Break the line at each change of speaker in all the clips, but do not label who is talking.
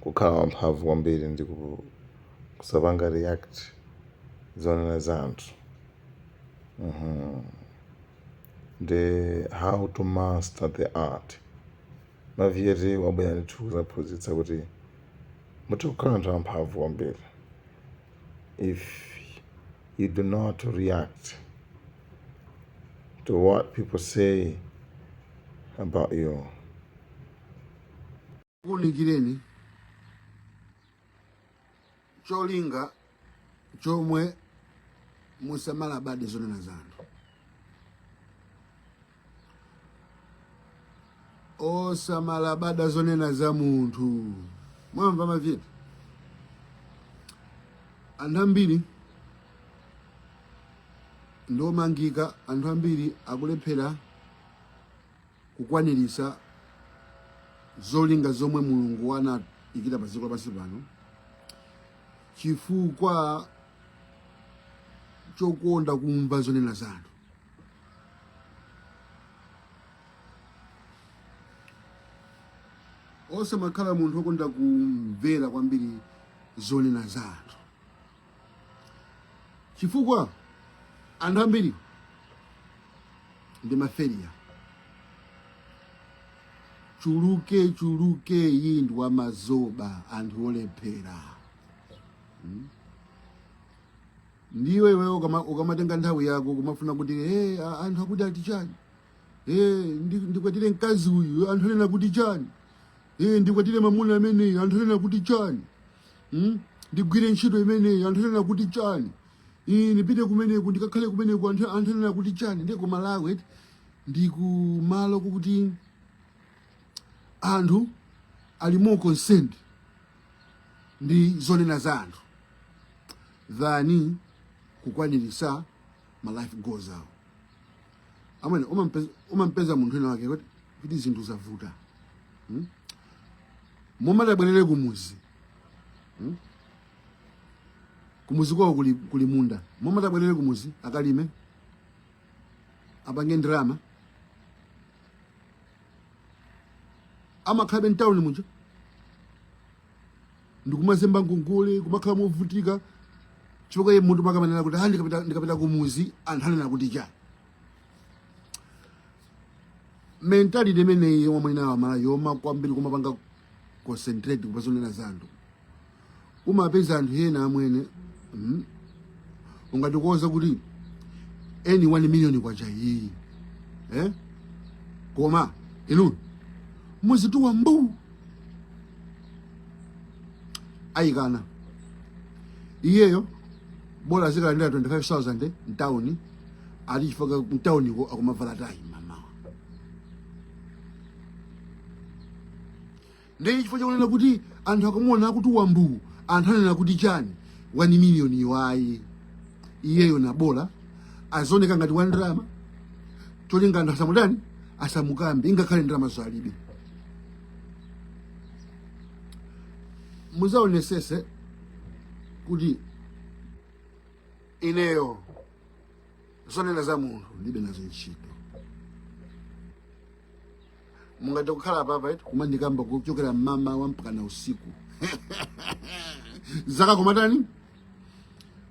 kukhala wamphamvu kwambiri ndi kusapanga react zonena za anthu mm-hmm. ndi how to master the art maviyeti wabwera ndithu kuzaphunzitsa kuti mutha kukhala anthu amphamvu kwambiri if you do not react to what people say about you
kuunikireni cholinga chomwe musamalabade zonena za anthu osamalabada zonena za munthu mwamva maviyeti anthu ambiri ndiomangika anthu ambiri akulephera kukwaniritsa zolinga zomwe mulungu anaikira pa dziko lapansi pano chifukwa chokonda kumva zonena za anthu osamakhala munthu okonda kumvera kwambiri zonena za anthu chifukwa anthu ambiri ndi maferiya chuluke chuluke iyi ndi wamazoba anthu olephera hmm? ndiye iwe ukamatenga nthawi yako kumafuna kuti hey, eh, anthu akuti ati chani hey, eh, ndikwatire mkazi uyu anthu anena kuti chani hey, eh, ndikwatire mamuna ameneyu anthu anena kuti chani hmm? ndigwire ntchito imeneyi anthu anena kuti chani ndipite kumeneku ndikakhale kumeneku anthu anena kuti chani ndiye ku malawi eti ndi kumalo koti anthu ali more concerned ndi zonena za anthu than kukwanirisa ma life goals awo amene umampeza munthu wina wake kuti zinthu zavuta hmm? mmoti abwerere kumuzi hmm? kumuzi kwawo kuli, kuli munda mmoti abwerere kumuzi akalime apange ndalama amakhalabe mtawuni muja ndikumazemba ngongole kumakhala movutika chifukwa iye munthu amakamanena kuti ha ndikapita kumuzi anthu anena kuti chani mentality imeneyi yomwe mwinawa mala yoma kwambiri kumapanga concentrate kupazonena za anthu umapeza anthu ena amwene mm, ungatikoza kuti any 1 million kwacha iyi eh? koma inu muzituwa mbu ayikana iyeyo bola azikalandira 25000 mtawuni ali chifukwa mtawuniko akumavala tayi mamawa ndiye chifukwa chakunena kuti anthu akamuona kuti wa mbuu anthu anena kuti chani 1 miliyoni ayi iyeyo na bola azioneka ngati wa ndalama cholinga anthu asamutani asamukambe ingakhale ndalama zo alibe muzaonesese kuti ineyo zonena za munthu ndibe nazo ntchito mungathe kukhala papa eti kumandikamba kuchokera mmamawa mpakana usiku zaka koma tani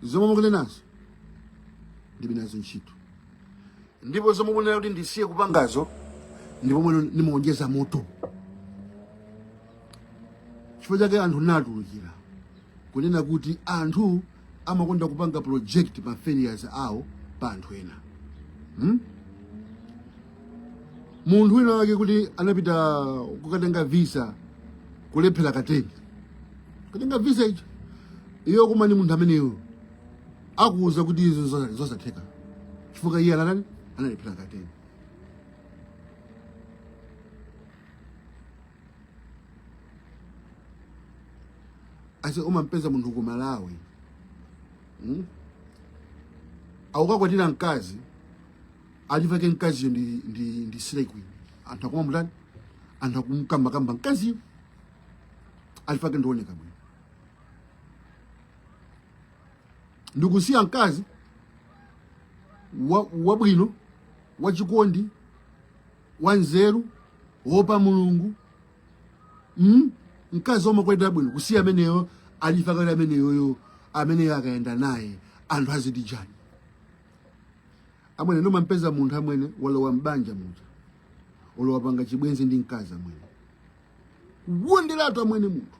zomwe mukunenazo ndibe nazo ntchito ndipo zomwe munena kuti ndisiye kupangazo ndipo mwina ndimaonjeza moto chifukwa chake anthu natulukira kunena kuti anthu amakonda kupanga project ma failures awo pa anthu ena hmm? munthu wina wake kuti anapita kukatenga visa kulephera kateni katenga visa icho iyo koma ni munthu ameneyo akuwuza kuti izo zosa- zosatheka chifukwa iye anatani analephera kateni ase umampeza munthu ku malawi mm? aukakwatira mkazi chifukwa mkaziyo ndi, ndi, ndi slay queen anthu akumamutani anthu akumkambakamba mkaziyo chifukwa ndioneka bwino ndikusiya mkazi wabwino wa wachikondi wanzeru wopa mulungu mm? mkazi womakwenda bwino kusiya ameneyo chifukwa ali ameneyoyo ameneyo akayenda naye anthu aziti chani amwene ndimampeza munthu amwene walowa mbanja muja olo wapanga chibwenzi ndi mkazi amwene kuwonderatu amwene munthu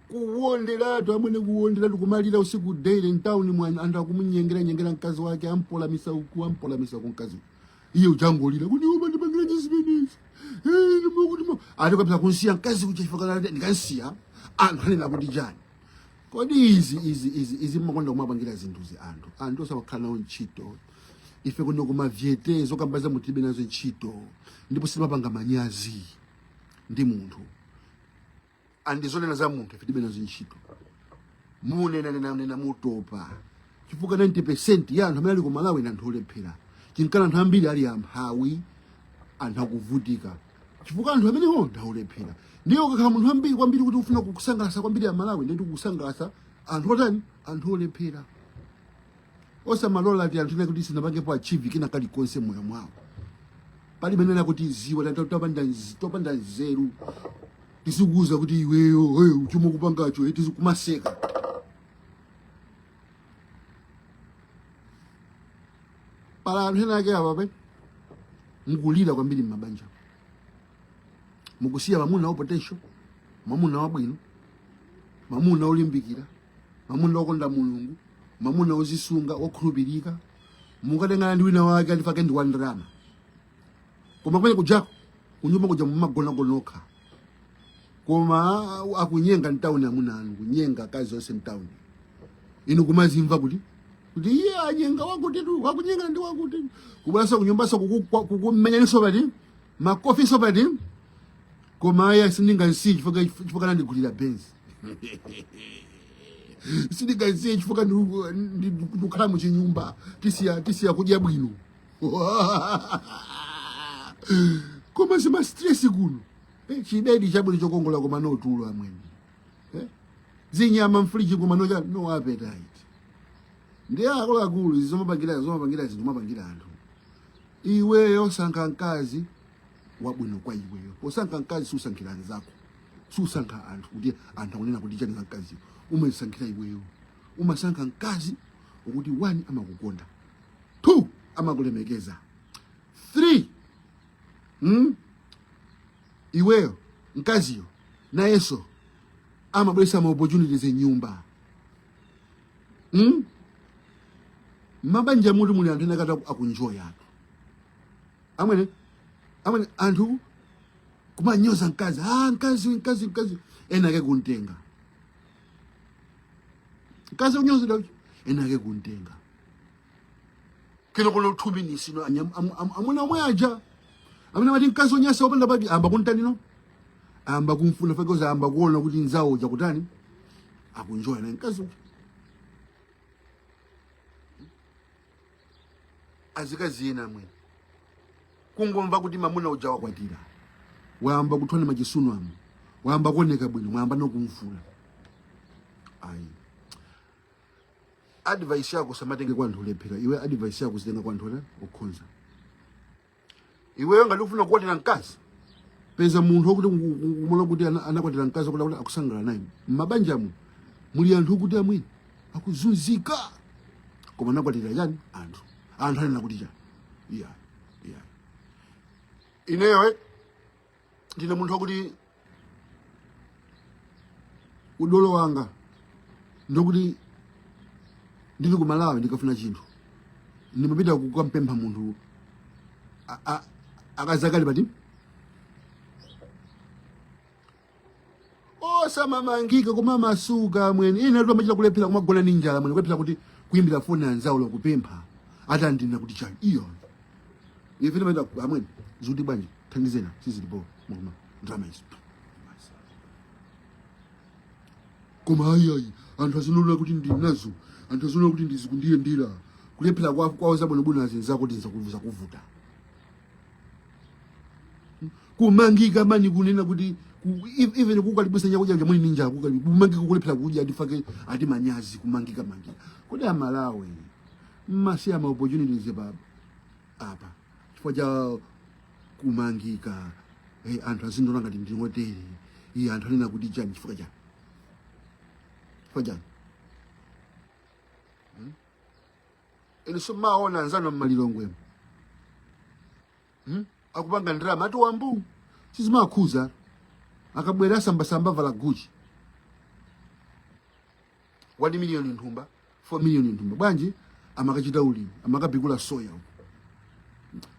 kuwonderatu amwene kuwonderatu kumalira usiku daily mtawuni mwa anthu akumunyengera nyengera mkazi wake ampolamisa uku ampolamisa ku mkazi uku. iye kumangolira kuti iwe mandipangira chani zimenezi ati kapita kunsiya mkazi chifukwa kuti ndikansiya anthu anena kuti chani kodi izi izi izi izi mmakonda kumapangira zinthuzi anthu anthu osamakhala nawo ntchito ife kuno kumavyete zokamba za munthu tibe nazo ntchito ndipo sitimapanga manyazi ndi munthu andi zonena za munthu ife tibe nazo ntchito munenanenanena mutopa chifukwa 90 ya anthu amene ali ku malawi ndi anthu olephera nchifukwa anthu ambiri ali amphawi anthu akuvutika chifukwa anthu amenewo ndi olephera ndiye ukakhala munthu ambiri kwambiri kuti ufuna kukusangalasa kwambiri Amalawi ndi kukusangalasa anthu otani anthu olephera osamalola ti anthu ena kuti sinapangepo achieve kina kalikonse moyo mwawo palibe nena kuti ziwanthu topanda nz- topanda nzeru tizikuuza kuti iweyo hey, chomwe ukupangacho eh, tizikumaseka pali anthu ena ake apapa mukulira kwambiri m'mabanja mukusiya mamuna wa potential mamuna wabwino mamuna olimbikira mamuna okonda mulungu mamuna ozisunga okhulupirika mukatengana ndi wina wake alifake ndi wandalama koma kumene kujako kunyumba kuja mumagona nokha koma akunyenga mtawuni amuna anu kunyenga akazi onse mtawuni inu kumazimva kuti kuti iye anyenga wakutitu wakunyenga ndi wakuti kubweraso kunyumbaso kukumenyaninso pati makofiso pati koma aya sindingansiye chifukwa chifukwa nandigulira benzi sindingansiye chifukwa ndi- ndi- ndikukhala muchinyumba tisiya tisiya kudya bwino koma zimastresi kuno eh, chibedi chabwino chokongola koma no tulo amwene eh? zinyama mfuliji koma no, no appetite ndi akuluakulu izi zomapangira zomapangira zinthu mapangira anthu iweyo sankha mkazi wabwino kwa iweyo posankha mkazi susankhira anzako susankha anthu kuti anthu akunena kuti chani za mkazi umasankhira iweyo umasankha mkazi woti wani amakukonda 2 amakulemekeza 3 hmm? iweyo mkaziyo nayenso amabweresa ma opportunities m'nyumba hmm? mabanja umutu muli anthu ena ake akunjoya anthu amwene amwene anthu kumanyoza mkazi ah, mkaziyo mkaziyo mkaziyo ena ake kuntenga mkazi onyozedwa ena ake kuntenga kino kulo two minutes no anyam- am- am- amuna omwe aja amene amati mkazi onyasa opanda pake amba kuntani no amba kumfuna fekoza amba kuona kuti nzawo uja kutani akunjoya naye mkazi uja azikazi ena amwe kungomva kuti mamuna uja wakwatira wayamba kuthwana machisunu amu wayamba kuoneka bwino mwayamba nokumfuna ayi advice yako samatenge kwa anthu olephera iwe advice yako zitenga kwa anthu okhonza iweyo ngati ufuna kukwatira mkazi peza munthu okuti umona kuti ana- anakwatira mkazi okuti akuti akusangalala naye mmabanjamu muli anthu okuti amwini akuzunzika koma anakwatira chani anthu anthu anena kuti chani iya iya ineyo eh, ndine munthu wakuti udolo wanga ndi wokuti ndili ku malawi ndikafuna chinthu ndimapita kukampempha munthu a- a- akazakali pati osamamangika kumamasuka amwene inetu amachita kulephera kumagona ndi njala amwene kulephera kuti kuyimbira foni anzawo kupempha ati andinena kuti chani iya ife timaenda amwene zikuti bwanji thandizeni sizilipo mukuona ndalama izi koma ayiayi anthu aziona kuti ndili nazo anthu aziona kuti zikundiyendera kulephera kwa- kwawo zabwinobwino azinzako zikuvuta kumangika mani kunena kuti even kukalipitsa chakudya cha muli ndi njala kumangika kulephera kudya ndipake ati manyazi kumangika mangika kodi amalawi mumasiya ma opportunities apa chifukwa cha kumangika hey, anthu azindona ngati ndine otere iyi anthu anena kuti chani chifukwa chani chifukwa chani inu simumaona anzanu a mu Lilongwe hmm? akupanga ndalama ati wambu sizimawakhuza akabwera asambasamba vala Gucci 1 million mthumba 4 million mthumba bwanji amakachita ulimi amakapikula soya uko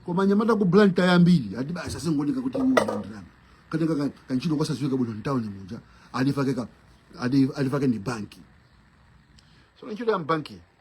koma anyamata aku Blantyre ambiri ati basi azingooneka kuti uyu ndalama katenga ka- kanchito kosaziwika bwino mtauni muja alifake ka ali- alifake ni banki so ntchito ya mbanki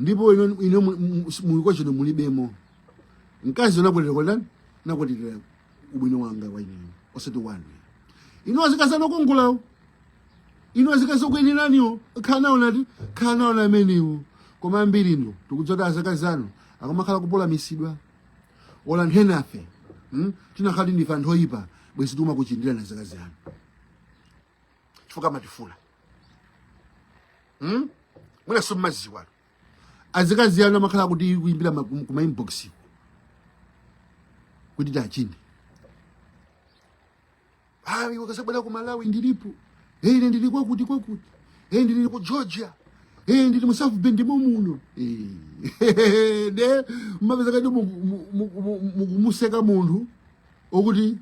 ndipo inu inu mulikocho inu mulibemo mkazi ndinakwatira kwa ndani ndinakwatira ubwino wanga kwa ine osati wanu inu azikazi anu okongolawo inu azikazi okuyenelaniwo khalani nawo ndati khalani nawo amenewo koma ambiri inu tikudziwatu azikazi anu akamakhala akupolamitsidwa ola anthu enafe hmm? tinakakhala kuti ndife anthu oyipa bwezi tikumakuchindirani azikazi anu chifukwa amatifuna hmm? mwina simumaziwa azikazi anu amakhala akutiyimbira kuma inbox kuti tiwachinde hayi mukazabwera ku Malawi ndilipo hey ine ndili kwakuti kwakuti hey ndili ku Georgia hey ndili mu South Bend momuno hey nde mumapezeka kuti mukumuseka munthu okuti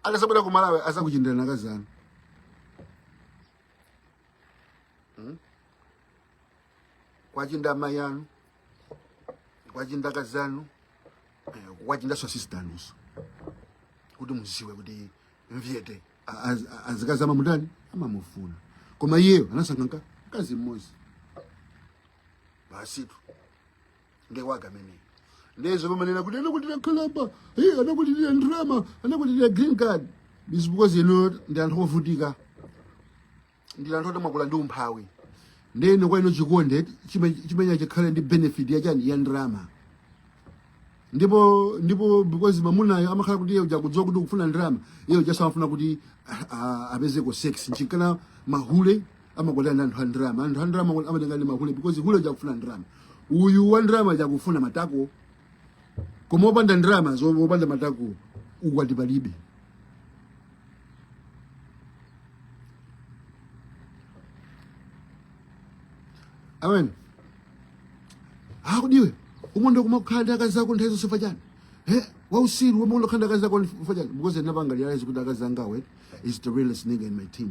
akasabwera ku malawi azakuchindirani akazi anu Hmm? kwachinda amayi anu kwachinda akazi anu eh, kwachindanso asisita anunso kuti muziwe kuti nyete azikazi amamutani amamufuna koma iyeyo anasankha mka- mkazi mmodzi basitu nde wanga ameneyo nde zoba manena kuti anakwatira nkhalamba hey, anakwatira ndrama anakwatira green card is because inu ndi anthu ovutika ndi anthu oti mwakula ndi umphawi ndeno kwa inu chikonde chime- chimenecho chikhale ndi benefit yachani ya ndrama ndipo ndipo because mamunayo amakhala kuti iye uja akudziwa kuti ukufuna ndrama iye uja amafuna kuti ah, ah, apezeko sex nchifukwa mahule amakwatira ndi anthu a ndalama anthu a ndalama amatenga ndi mahule because hule uja akufuna ndalama uyu wa ndalama uja akufuna matako koma opanda ndalama zo opanda matako ukwati palibe amene akuti iwe umakonda kumakhala ndi akazi ako nthawi zonse chifukwa chani iwe wautsiru umakonda kukhala ndi akazi ako chifukwa chani because ndinapanga realize kuti akazi angawo is the realest nigga in my team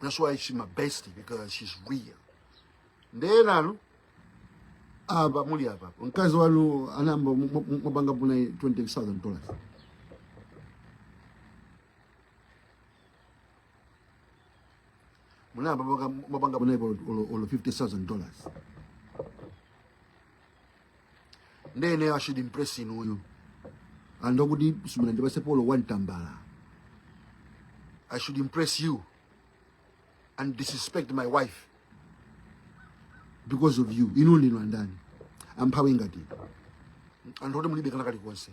That's why she's my bestie because she's real. Nde nanu apa muli apa mkazi wanu munayamba mwapangapo na 20000 dollars munayamba mwapangapo na olo 50000 dollars nde ineyo i should impress inuyo anthu oti simunandipatsepo olo one tambala i should impress you and disrespect my wife because of you inu ndinu andani amphawi ngati anthu oti mulibe kana kalikonse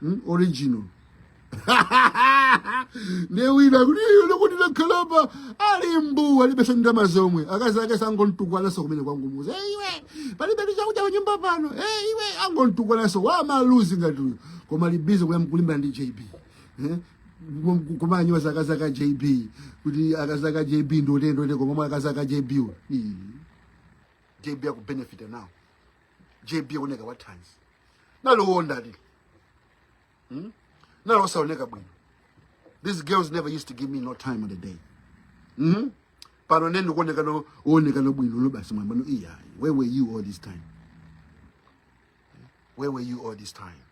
hmm? original ndiye wina woti wakhala apa ali mbuu alibenso ndalama zomwe akazi ake akungomutukwananso kumene akungomuuza e iwe palibe ndi chakudya panyumba pano e iwe angomutukwananso wamaluzi ngati uyo koma ali busy kulimbana ndi jb eh? kumanyiwa za akazi ake a jb kuti akazi ake a jb ndi otere ndi otere pomwe akazi ake a jb jb akubenefita nawo jb oneka wathanzi naliwonda li hmm? nalosaoneka bwino these girls never used to give me no time on the day hmm? pano ne ndikuoneka no oneka no bwino lo basi mwamba no iya where were you all this time where were you all this time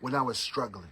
when i was struggling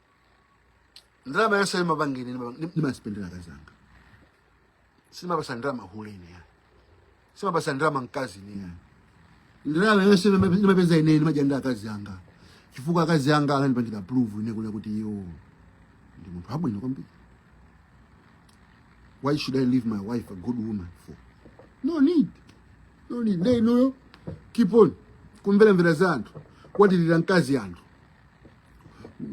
ndalama yonse ndimapanga ine ndimasipenda ndi akazi anga sindimapatsa ndalama hule ineyo ayi sindimapatsa ndalama mkazi ineyo ayi ndalama yonse ndimapeza ine ndimadya ndi akazi anga chifukwa akazi anga anandipangira prove ine kule kuti iyo ndi munthu abwino kwambiri why should i leave my wife a good woman for no need no need nde inuyo keep on kumveramvera za anthu kukwatirira mkazi anthu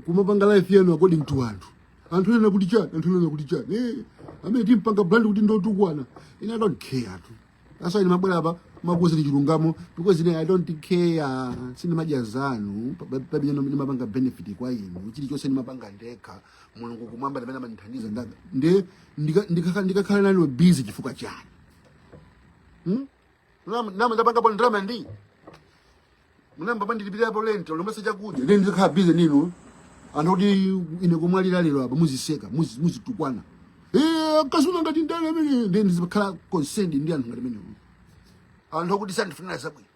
kumapanga life yanu according to anthu anthu anena kuti chani anthu anena kuti chani eh amwene timpanga brand kuti ndotukwana ine i don't care tu that's why ndimabwera apa kumakuuzani chilungamo because ine i don't care sindimadya zanu palibe ndimapanga benefit kwa inu chilichonse ndimapanga ndekha mulungu kumwamba ndamene amandithandiza ndaga nde ndika- ndikakha- ndikakhala nanu busy chifukwa chani hmm? Nama- nama ndapangapo ndalama ndi munayamba mwandilipirapo rent olo mesa chakudya nde ndikhala busy ndinu anthu oti ine kumwalira lero apa muziseka muzi- muzitukwana Eh, mkazi wanga ngati ndani amwene nde ndizikhala concerned ndi anthu ngati amenewo anthu oti sandifunira zabwino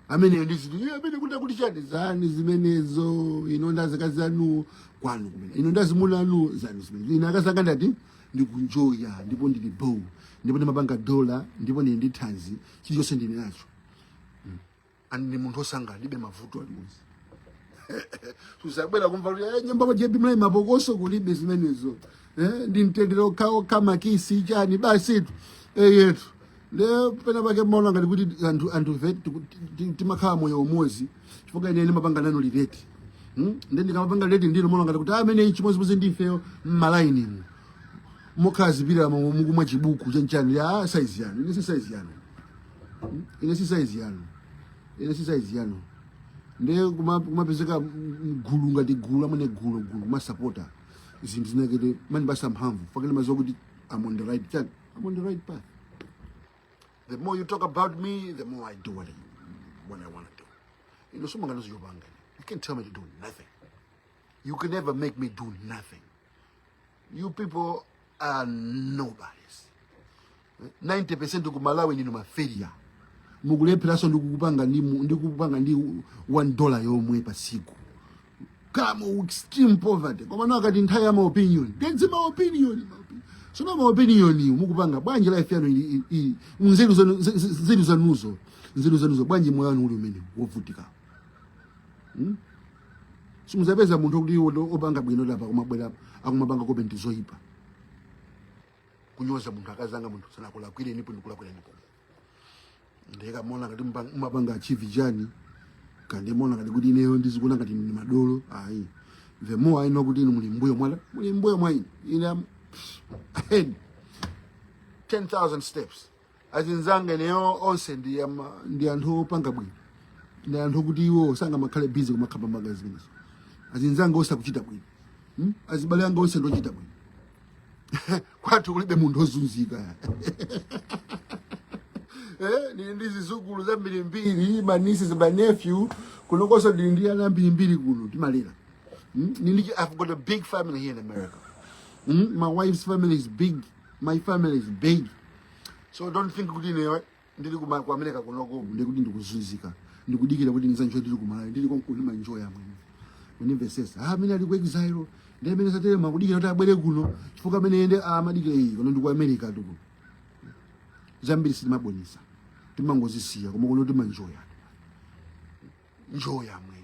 amwene ndiziti "Eh, amwene kuti akuti chani zani zimenezo inu ndazikazi anu kwanu kumene inu ndazimuna anu zanu zimenezo ine akazanga ndati ndikunjoya ndipo ndili bho ndipo ndimapanga dola ndipo ndili ndi thanzi chilichonse ndili nacho ani ndi munthu osangalala alibe mavuto aliwonse simuzabwera kumva kuti eh, nyumba kwa jebi muli mapokoso kulibe zimenezo eh, ndi mtendere okhaokha makisi chani basi tu eh, yetu nde pena pake mumaona ngati kuti anthu anthufe tiku- ti- ti- timakhala moyo umodzi chifukwa ine ndimapanga nanu relate hmm? nde ndikamapanga relate ndinu mumaona ngati kuti amwene chimodzimodzi ndifeyo mmalainimu mokhala zipirira mukumwa chibuku chanchani ya saizi yanu ine si saizi yanu ine si saizi yanu ine si saizi yanu ndiye kuma- kumapezeka mgulu ngati gulu amwene gulu gulu kumasapota zinthu zinakete mumandipatsa mphamvu chifukwa ine ndimadziwa kuti I'm on the right track I'm on the right path the more you talk about me the more i do what i, what I want to do inu simungandiuze zopanga you can't tell me to do nothing you can never make me do nothing You people are nobodies. 90% ku Malawi ndinu mafailure. Mukulepheranso ndi kukupanga ndi mu- ndi kukupanga ndi 1 dollar yomwe pa tsiku. Kukhala mu extreme poverty. Koma nawo akati nthawi ya ma opinion. Nde zima opinion. ma opinion. Sono ma opinionwo mukupanga bwanji life yanu ili ili- ili. Nzeru zanu ze- ze- nzeru zanuzo. Nzeru zanuzo bwanji moyo wanu uli umene wovutika. simuzapeza munthu oti opanga bwino apa kumabwera akumapanga comment zoyipa kunyoza munthu akazanga munthu sanakulakwire ndipo ndikulakwira ndipo nde kaya mumaona ngati mumapanga achieve chani kaya mumaona ngati kuti ineyo ndizikuona ngati ndi madolo ayi the more i know kuti inu muli mbuyo mwa- muli mbuyo mwa ine ine I'm ahead 10000 steps achinzanga ineyo onse ndi ama- ndi anthu opanga bwino ndi anthu kuti iwo sangamakhale bizi kumakamba magazi zimenezo achinzanga onse akuchita bwino Hmm? azibale anga onse ndochita bwino kwathu kulibe munthu ozunzika Eh, ndili ndi zizukulu zambirimbiri ma nieces ma nephew kunokonso ndili ndi ana ambirimbiri kuno timalera Hmm? Ndili ndi- i've got a big family here in america Hmm? my wife's family is big my family is big so don't think kuti ineyo ndili kuma- ku america kunoko ndiye kuti ndikuzunzika ndikudikira kuti ndizakanjoya ndili kumalawi ndili konkuno ndimanjoya amwene undimvesese ah amene ali ku exile ndi amene satelema akudikira kuti abwere kuno chifukwa amene yense amadikira iyi kuno ndi ku america tu kuno zambiri sitimaonesa timangozisiya koma kuno timanjoya njoya amwene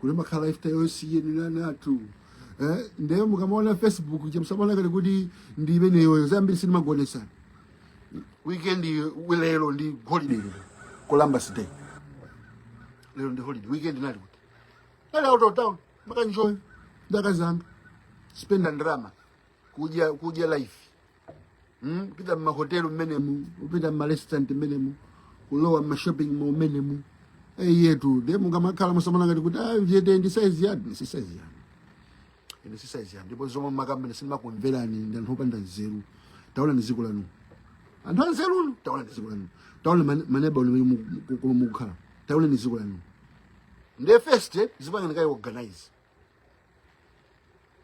kuli makhala lifestyle yosiyaniranatu eh, ndiye mukamaona facebook che musamaone ngati kuti ndi imeneyoyo zambiri sindimakuonesani weekend lero ndi holiday lero columbus day lero ndi holiday weekend nali kuti nali out of town makanjoya ndi akazanga spenda ndrama kudya kudya life mm, kupita mmahotelu mmenemu kupita mmarestaurant mmenemu kulowa mmashopping mall mmenemu eyetu nde mukamakhala musamaone ngati kuti ah, jete ndi size yanu ine si size yanu ine si size yanu ndipo zomwe mmakamba ine sindimakumverani ndi anthu opanda nzeru taonani dziko lanu anthu anzerunu taonani dziko lanu taonani mane- ma neighbourhood amene mu- mu- mu- mukukhala taonani dziko lanu ndiye first eh, dzipangeni kaye organize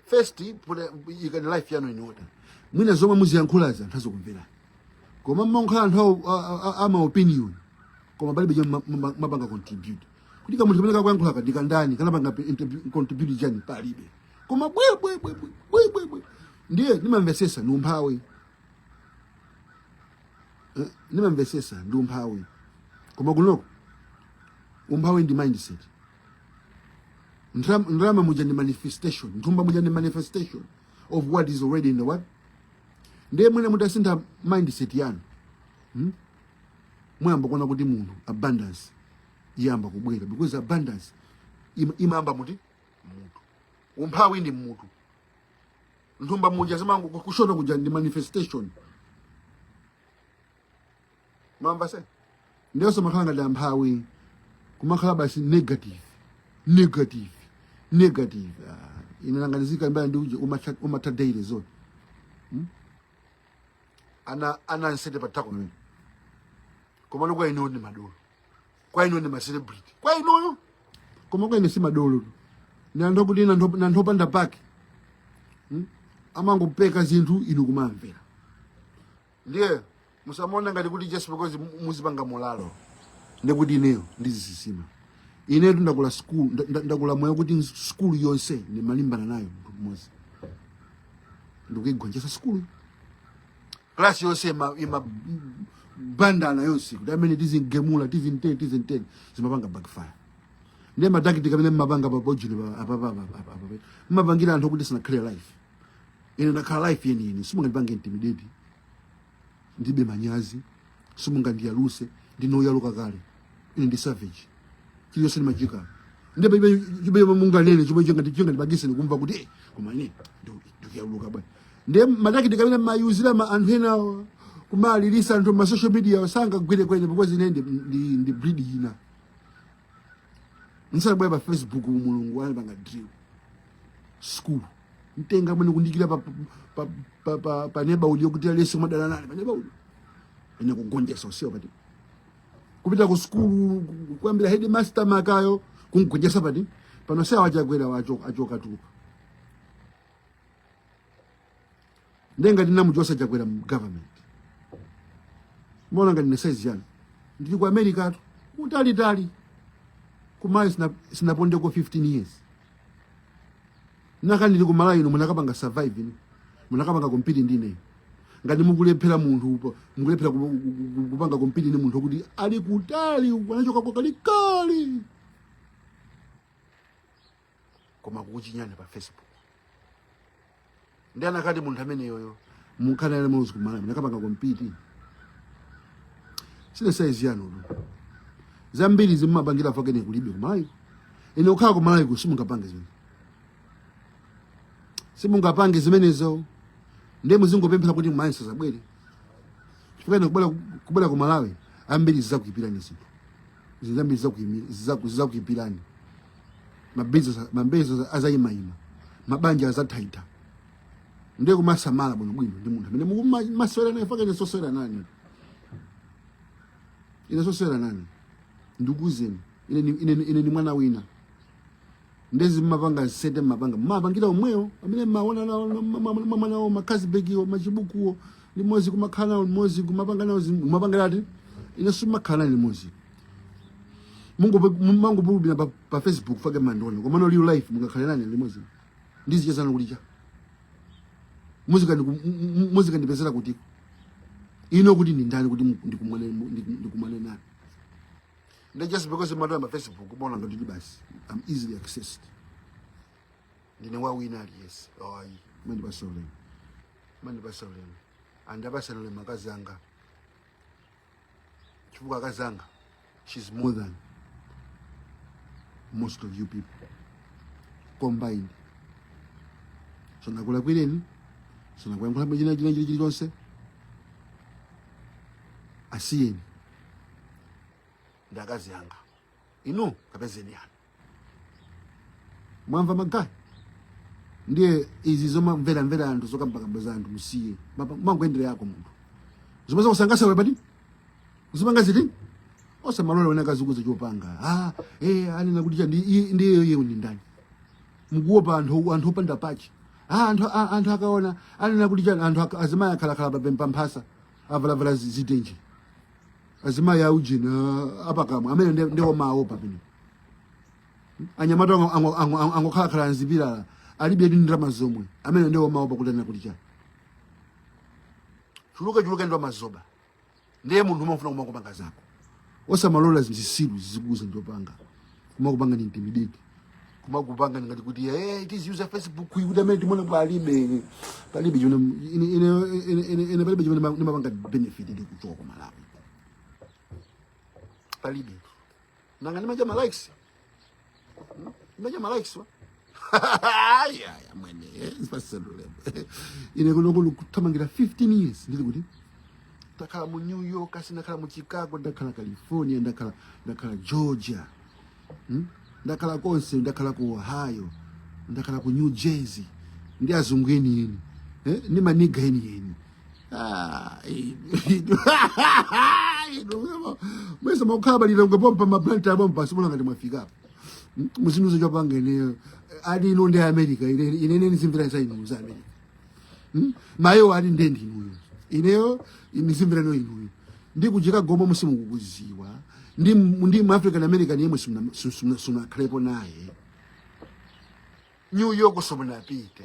first put- ikani life yanu in order mwina zomwe muziyankhulazi anthu azikumverani koma mmangokhala anthu awo- a- a- a- ama opinion koma palibe chomwe ma- ma- mapanga contribute kuti kamunthu kamene kakuyankhula kodi kandani kanapanga pe- interview- contribute chani palibe koma bwebwebwebwebwebwe ndiye ndimamvesesa ndi umphawi Eh, ndimamvesesa ndi umphawi koma kunoko umphawi ndi mindset Ndram- ndalama muja ndi manifestation nthumba muja ndi manifestation of what is already in the what ndiye amwene mutasintha mindset yanu hmm? muyamba kuona kuti munthu abundance iyamba kubwera because abundance im- imayamba muti mmutu umphawi ndi mmutu nthumba muja zimango- kushota kuja ndi manifestation mwamva se ndiye musamakhale ngati amphawi kumakhala basi negative negative negative ah, ine nnangonizika mbaya ndi uje umatha- umatha daily zone Hmm? ana ana nsete patako pamene komano kwa ineyo ndi madolo kwa ineyo ndi macelebrity kwa ineyo koma kwa ine si madolo tu ndi anthu oti ndi anthu- ndi anthu opanda pake Hmm? amangopeka zinthu inu kumawamvera ndiye musamaone ngati kuti just because mu- muzipanga molalo ndekuti ineyo ndizisisima ine ndakula school nda- nda- ndakula moyo woti school yonse ndimalimbana nayo munthu mmodzi ndikuigonjesa school class yonse ima, imabandana yonse kuti ameneyu tizimugemula tizinteni tizinteni zimapanga backfire ndiye ma tactic amene mmapanga pa page apapapa mmapangira anthu oti sanakhale life ine ndakhala life yeni yeni simungandipange intimidate ndibe manyazi simungandiyaluse ndinoyaluka kale ine ndi savage chilichonse ndimachita palibe munganene chomwe chingandipangise ine kumva kuti eh, koma ine ndikuyaluka bwana nde ma tactic amene mmayuzira pa anthu enawa kumalilisa anthu mma social media sangagwire kwa ine because ine ndi, ndi, ndi breed ina nsabwe pa facebook mulungu anandipanga drill school mtenga mwene kundikira pa pa pa pa, pa neighborhood kuti alese madala nane pa neighborhood ine kugonjesa UDF party kupita ku school kuyambira headmaster wakeyo kumgonjesa pati pano sawa chakwera wachoka Mutharika nde ngati ndinamuchosa chakwera mu government mmaona ngati ine ndi size yanu ndili ku america-tu kutalitali kumalawi sina sinapondeko 15 years nanga ndili ku malawi kuno munakapanga survive inu munakapanga compete ndi ine ngati mukulephera munthu upo- mukulephera ku- ku- ku- kupanga compete ni munthu woti ali kutali anachokako kalekale koma kukuchinyani pa facebook nde nanga munthu ameneyoyo mukhale naye maudzi kumalawi munakapanga compete sine size yanutu zambiri zimene mmapangira fuka ine kulibe kumalawi ine kukhala kumalawiko simungapange zimene simungapange zimenezo ndiye muzingopemphera kuti kumalawi nsazabwere chifukwa ine kubwera kubwera kumalawi ambiri zizakuipirani zinthu zinthu zambiri zizakuimi- zizaku- zizakuipirani mabizi, ma business azayimayima mabanja azathaitha ndiye kumasamala bwino bwino ndi munthu amene mukumasewera naye fuka ine sosewera nane ine sosewera nane ndikuuzeni ine ni- ine ni- ine ni mwana wina nde zimene mmapanga zimene mmapanga mmapangira omweyo amene mmaona nawo mmamwa nawo ma carlsberg-wo machibukuwo limozi kumakhala nawo limozi kumapanga nawo zim- kumapanga nawo ine simakhala nanu limozi Mungo- mungobulubira pa, pa Facebook page mandiona. Komano real life mungakhale nane limozi. Ndizichezana kuti cha. Muzikandi- muzikandipezera kuti ino kuti ndi ndani kuti ndikumane ndikumane naye. They just because you matter on Facebook, come on and do this. I'm easily accessed. You know what we not yes. Oh, mundipatse ulemu. Mundipatse ulemu. And apatse ulemu akazanga. chifukwa akazanga she's more than most of you people combined sanakulakwireni sanakuyankhulepo china china chili chilichonse asiyeni ndi akazi anga inu kapezeni anu mwamva magayi ndiye izi zomamvera mvera anthu zokambakamba za anthu musiye Mapa- mangoyendera yako munthu zomwe zakusangasa iwe pati uzipanga ziti osamalola wina azikuuza chopanga ah, eh, anena kuti cha ndi i- ndi iye ndi ndani mukuopa anthu anthu opanda pache ah, anthu a- anthu akaona anena kuti cha anthu aka- azimayi akhalakhala pa- pamphasa avalavala zi- zitenje azimayi a ujini uh, apakamwa amene ndi- ndi omawopa pena anyamata ango- ango- ango- ango- angokhalakhala m'zipilala alibe ndi ndalama zomwe amene ndi omawopa kuti anena kuti chani chuluke chuluke ndi wa mazoba ndiye munthu umafuna kumangopanga zako osamalola zisiru zizikuuza chopanga kumakupangani intimidate kumakupangani ngati kuti hey, it is user facebook kuyi kuti amene timona palibe palibe chimene ine- ine- ine- ine- ine palibe chimene ndima- ndimapanga benefit ndi kuchoka ku malawi palibe nanga ndimadya ma likes Hmm? ndimadya ma likes wa ayaya mwene zipasendulepo ine kuno kuno kuthamangira 15 years ndili kuti ndakhala mu new york asi ndakhala mu chicago ndakhala california ndakhala ndakhala georgia hmm? ndakhala konse ndakhala ku ohio ndakhala ku new jersey ndi azungu enieni eh? ndi maniga enieni Ah, inu- inu- mwese mwakukhala pa lilongwe pompa ma blantyre apompa muziona ngati mwafikapo muzindiuza chopanga ineyo ati ino ndi america ine ine ine nizimvera za inu za america Hmm? mayo ali ndendi inuyo ineyo nizimvera no inuyo ndi ku chicago komwe simukukuziwa ndi ndi mu african american yemwe simuna- sim- simuna- simunakhalepo naye new york simunapite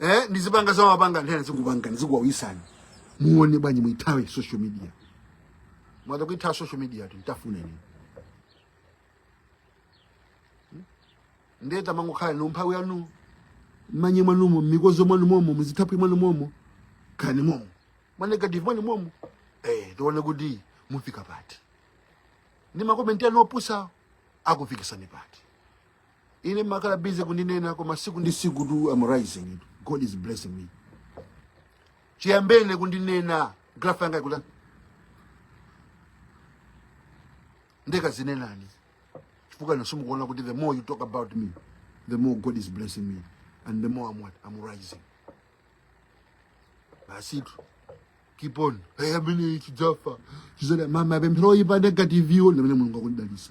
eh ndizipanga za mapanga nthena zikupangani zikuwawisani muone bwanji muithawe social media mwatha kuithawa social media tu mtafuna ine ndeta mangokhala ndi umphawi wanu manye mwanumo mikodzo mwanu momo muzithapi mwanu momo kani momo mwanegative mwanu momo eh tione kuti mufika pati ndi makomenti anu opusa akufikisani pati ine mumakhala busy kundinena koma siku ndi siku tu am rising god is blessing me chiyambene kundinena graph yanga ikula nde kazinenani chifukwa inu simukuona kuti the more you talk about me the more god is blessing me and the more i'm what i'm rising basitu keep on hey, amene chidzafa chizada mmawa pemphero oyipa negative yo ndamene mulungu akundidalisa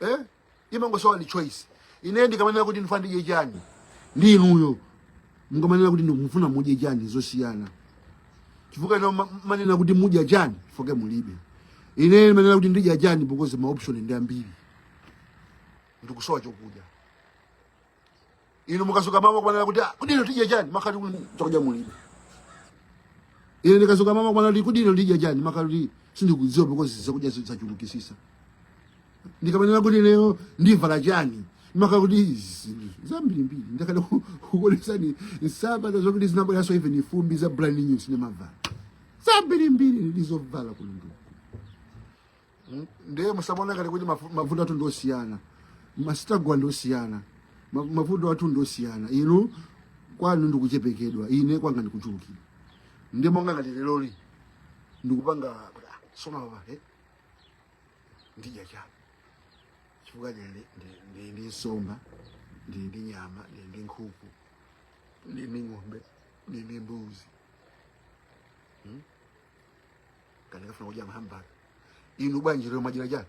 eh imangosowa ndi choice ine ndikamanena kuti ndifuna ndidye chani ndi inuyo mukamanena kuti ndikufuna mudye chani zosiyana chifukwa inu ma- manena kuti mudya chani foke mulibe ine manena kuti ndidya chani because ma option ndi ambiri ndikusowa chokudya inu mukadzuka mmawa kumanena kuti "Ah, kodi lero tidya chani makati kuti chakudya mulibe ine ndikadzuka mmawa kumanena kuti kodi lero ndidya chani makati kuti sindikudziwa because zakudya zachulukitsitsa ndikamanena kuti lero ndivala chani maka kuti izi zambirimbiri ndikadaku- kukuonetsani nsapato zokuti zinabweranso even fumbi za brand new sindinavale zambirimbiri ndizovala kulunduku Mm, ndiye musamaone ngati kuti mafu- mavuto athu ndiosiyana ma struggle ndiosiyana ma- mavuto athu ndiosiyana inu kwanu ndikuchepekedwa ine kwanga ndikuchulukira ndi monga ngati leroli ndikupanga so apa eh? ndidya chani chifukwa ndili ndi- ndi- ndi- ndi nsomba ndili ndi nyama ndili ndi nkhuku ndili ndi ng'ombe ndili ndi mbuzi Hmm? kapena ndikafuna kudya mahambaga inu bwanji lero mwadyera chani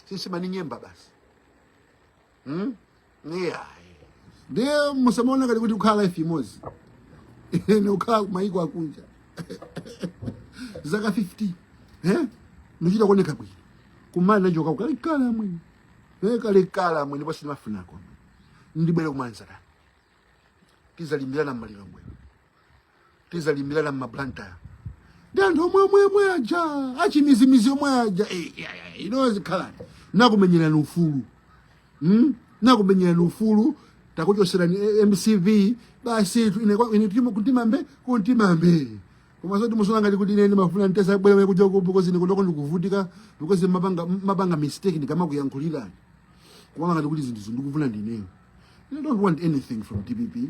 si nsima ni nyemba basi hmm yeah ndiye musamaone ngati tikukhala life imodzi ni ukhala kumayiko akunja zaka 50 eh nichita kuoneka bwino kumanena choka ukalekale mwene eh kalekale mwene basi ndimafunako ndibwere kumanzanga tizalimbirana mmaliro mwene tizalimbirana mmablantyre ndi anthu omwe omwe omwe aja achimizimizi omwe aja Eh, ya, ya, inu zikhalani nakumenyerani ufulu mm? nakumenyerani ufulu takuchoserani eh, mcp basi tu- ine kwa- ine timo- kuntima mbee kuntima mbee koma zoti muziona ngati kuti ine ndimafuna ntazabwera kuja uku because ine kunoko ndikuvutika because mumapanga mumapanga mistake ndikamakuyankhulirani koma ngati kuti zinthuzi ndikufuna ndineyo I don't want anything from dpp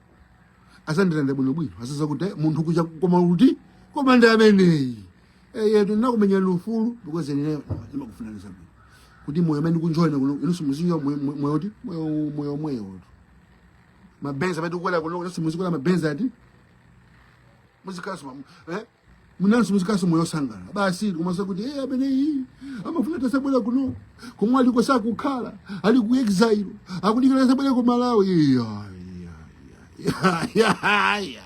azandilandira bwino bwino azaziwa kuti eh, munthu uja koma kuti koma ndi ameneyi eyetu eh, ndinakumenyerani ufulu because ine ndimakufunirani zabwino kuti moyo amene ndikunjoya ine kuno inunso muzinjoya moyo ti moyo moyo moyo tu mabenzi amene tikukwera kuno inunso muzikwera mabenzi ati muzikhala eh nanunso muzikhalanso moyo osangala basi koma zakuti eh ameneyi amafuna atazabwera kuno komwe aliko sakukhala ali ku exile akudikira atazabwera ku malawi iya iya iya iya iya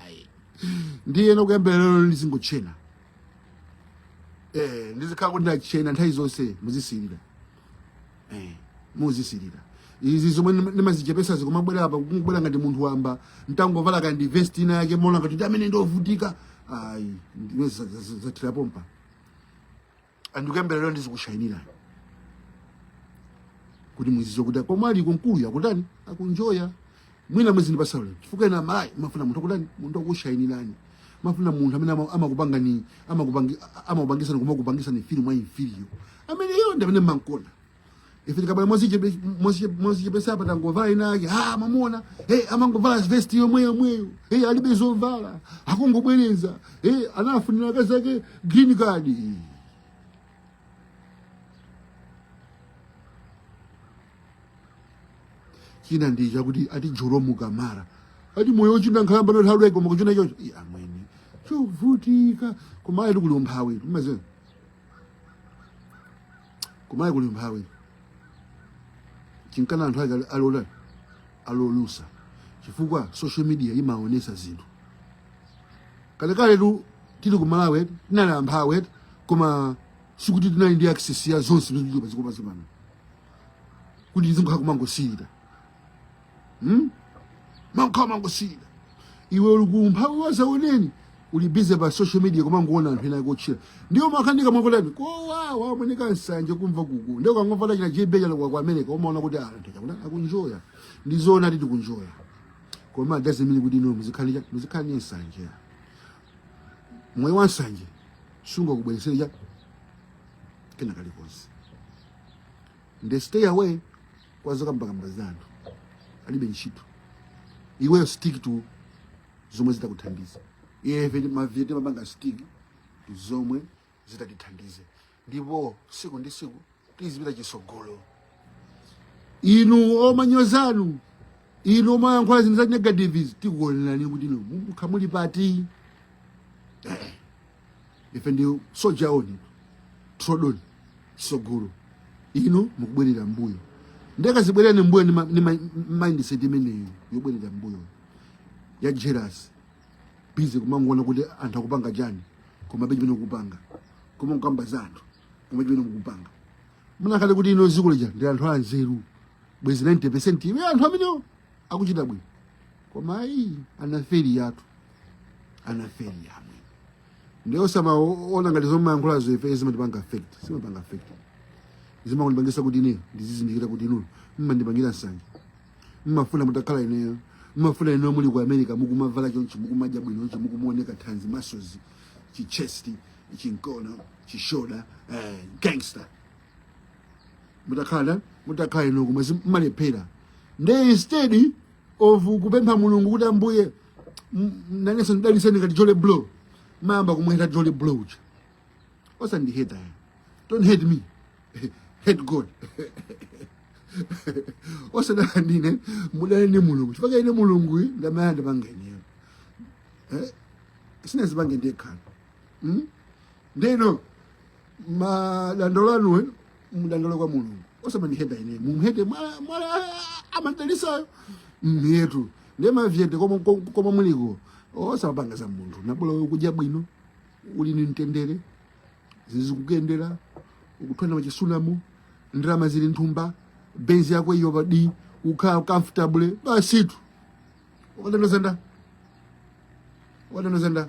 ndiye ine kuyambira lero ndizingotchena eh ndizikhala kuti ndatchena nthawi zonse muzisirira eh, muzisilira izi zomwe ndima- ndimazichepesazi kumabwera apa kungobwera ngati munthu wamba ntangovala kaya ndi vest ina yake mumaona ngati ndi amene ndi ovutika ayi ndiwe za- za- za- zathera pompa and kuyambira lero ndizikushayinira kuti muziziwa kuti komwe aliko mkuluyo akutani akunjoya Mwina muzindipasa ulemu. Chifukwa inu amalawi mumafuna munthu akutani, munthu akushainirani. Mumafuna munthu amene ama- amakupangani, amakupangi amakupangisa koma kupangisani feel more inferior. Ameneyo ndi amene mumankonda. Ife tikabwera mozichepe mozichepe- mozichepesa apa tangovala ina yake. Ah mwamuona. Hey amangovala vest yomwe yomweyo. Hey alibe zovala. Akungobwereza. Hey anafunira akazi ake green card. china ndi chakuti ati joromu kamara ati moyo ochinda nkhalamba nothawi koma kutchena chocho Ii, amwene chovutika kumalawitu kuli umphawi timaziwa kumalawi kuli umphawi chinkana anthu ake alola ali olusa chifukwa social media imaonesa zinthu kalekale tu tili ku malawi eti, tinali amphawi eti, koma sikuti tinali ndi access ya zonse zimene zili padziko pansi pano kuti uzingokhala kumangosirira hmm? umakhala umangosirira iwe uli kumphawi wazaoneni uli busy pa social media kumangoona anthu ena akutchena ndiye mumakhala ni kamwa kotani kowawa amoneka nsanje kumva kuku ndiye ukangomva tachina jebe chalokwa ku america umaona kuti anthu chakuti akunjoya ndizoonadi tikunjoya koma it doesn't mean kuti inu muzikhala cha- muzikhala ni nsanje moyo wa nsanje sungakubweresere cha kena kalikonse nde stay away kwa zokambakamba za anthu alibe ntchito iweyo stick to zomwe zitakuthandiza ife mavet timapanga stick to zomwe zitatithandize ndipo siku ndi siku tizipita chisogolo inu omanyozanu inu omayankhula zinthu za negatives tikuonelani kuti inu mukhala muli pati ife ndi soja on trod on sogolo inu mukubwerera mbuyo nde kazibwererani mbuyo ni ma- ni ma- mindset imeneyo yobwerera mbuyo ya jealous busy kumangoona kuti anthu akupanga chani koma mulibe chimene mukupanga koma kukamba za anthu koma chimene mukupanga munakakhala kuti inu ziko lija ndi anthu anzeru bwezi 90 percent ya anthu amenewo akuchita bwino koma ayi anaferi yathu anaferi yamwe ndiye osamaona ngati zomwe mmayankhulazo ife zimatipanga affect sizimatipanga affect zimandipangisa kuti ine ndizizindikira kuti inu mmandipangira nsanje mmafuna mutakhala ineyo mmafuna ineyo muli ku america mukumavala chonchi mukumadya bwino chonchi mukumaoneka thanzi muscles chichest chinkono chishoda eh, gangster mutakhala mutakhala inu koma mmalephera nde instead of kupempha mulungu kuti ambuye m- nanenso ndidaliseni ngati jolly bro mmayamba kumuheta jolly bro uja osandiheta ya don't hate me hate god osadana ndine mudane ndi mulungu chifukwa ine mulungu ndamene anandipanga ineyo sinazipange ndekha ndeno madandaulo anuwo mudandaule kwa mulungu osamandiheta ine mumhete mwala mwala amadalisayo mhetu nde mavet koma muliko osamapanga za munthu nabola wewe kudya bwino uli ni mtendere zikukuyendera ukuthwana machisunamo ndalama zili nthumba benzi yako iyo paden ukhala comfortable basitu ukadanozanda ukadanozanda